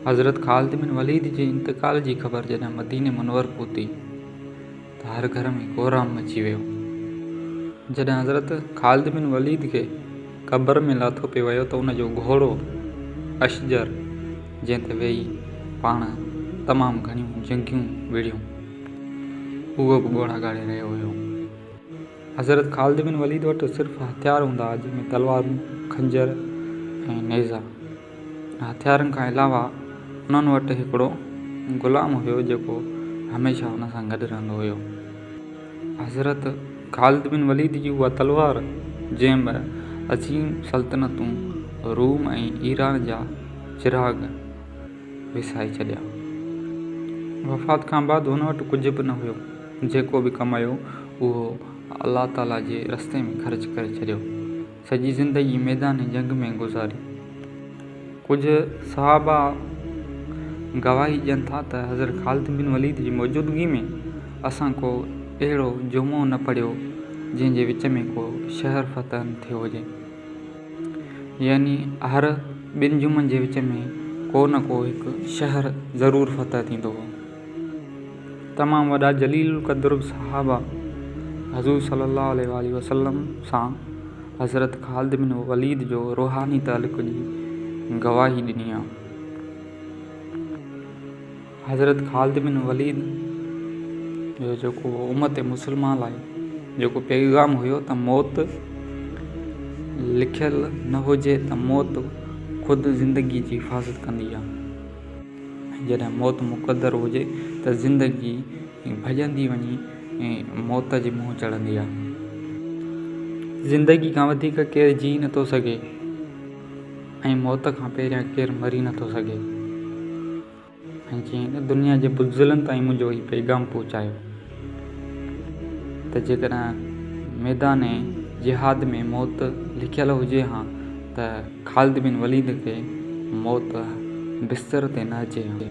حضرت Khalid bin Walid جي انتقال جي خبر جڏهن مديني منور پهتي ته هر گهر ۾ ڪورام مچي ويو جڏهن حضرت خالد بن وليد کي قبر ۾ لاٿو پئي ويو ته ان جو گهوڙو اشجر جنهن تي ويهي پاڻ تمام گهڻيون جنگيون وڙهيون هو به ڳوڙها ڳاڙي رهيو هيو. حضرت خالد بن وليد وٽ صرف هٿيار هوندا هئا، جن ۾ تلوارون، خنجر ۽ نيزا. ان هٿيارن کان علاوه انهن وٽ هڪڙو غلام هيو جيڪو هميشه انهن سان گڏ رهندو هيو. حضرت خالد بن وليد جي اها تلوار جنهن ٻه عظيم سلطنتون روم ۽ ايران جا چراغ وسائي ڇڏيا. وفات کان بعد هن وٽ ڪجهه به نه هيو، جيڪو به ڪمايو اهو الله تعاليٰ جي رستي ۾ خرچ ڪري ڇڏيو. سڄي زندگي ميدان جنگ ۾ گذاري. ڪجهه صحابه گواهي ڏين ٿا ته حضرت خالد بن وليد جي موجودگي ۾ اسان ڪو اهڙو جمعو نه پڙهيو جنهن جي وچ ۾ ڪو شهر فتح نه ٿيو هجي. يعني هر ٻن جمعن جي وچ ۾ ڪو نه ڪو هڪ شهر ضرور فتح ٿيندو هو. تمام وڏا جليل القدر صحابه حضور صلّي اللّٰه عليه واٰله وسلّم سان حضرت خالد بن وليد جو روحاني تعلق جي گواهي ڏني آهي. حضرت خالد بن وليد جو جيڪو امت مسلمه لاء جيڪو پيغام هيو ته موت لکيل نه هجي ته موت خود زندگي جي حفاظت ڪندي آهي ۽ جڏهن موت مقدر هجي ته زندگي ڀڄندي وڃي موت جي منهن چڙهندي آهي. زندگي کان وڌيڪ ڪير جيئي نه ٿو سگهي ۽ موت کان پهريان ڪير مري نه ٿو سگهي. ۽ چيائين ته دنيا جي بزدلن تائين منهنجو هي پيغام پهچايو ته جيڪڏهن ميدان جهاد ۾ موت لکيل هجي ها ته خالد بن وليد کي موت بستر تي نه اچي ها.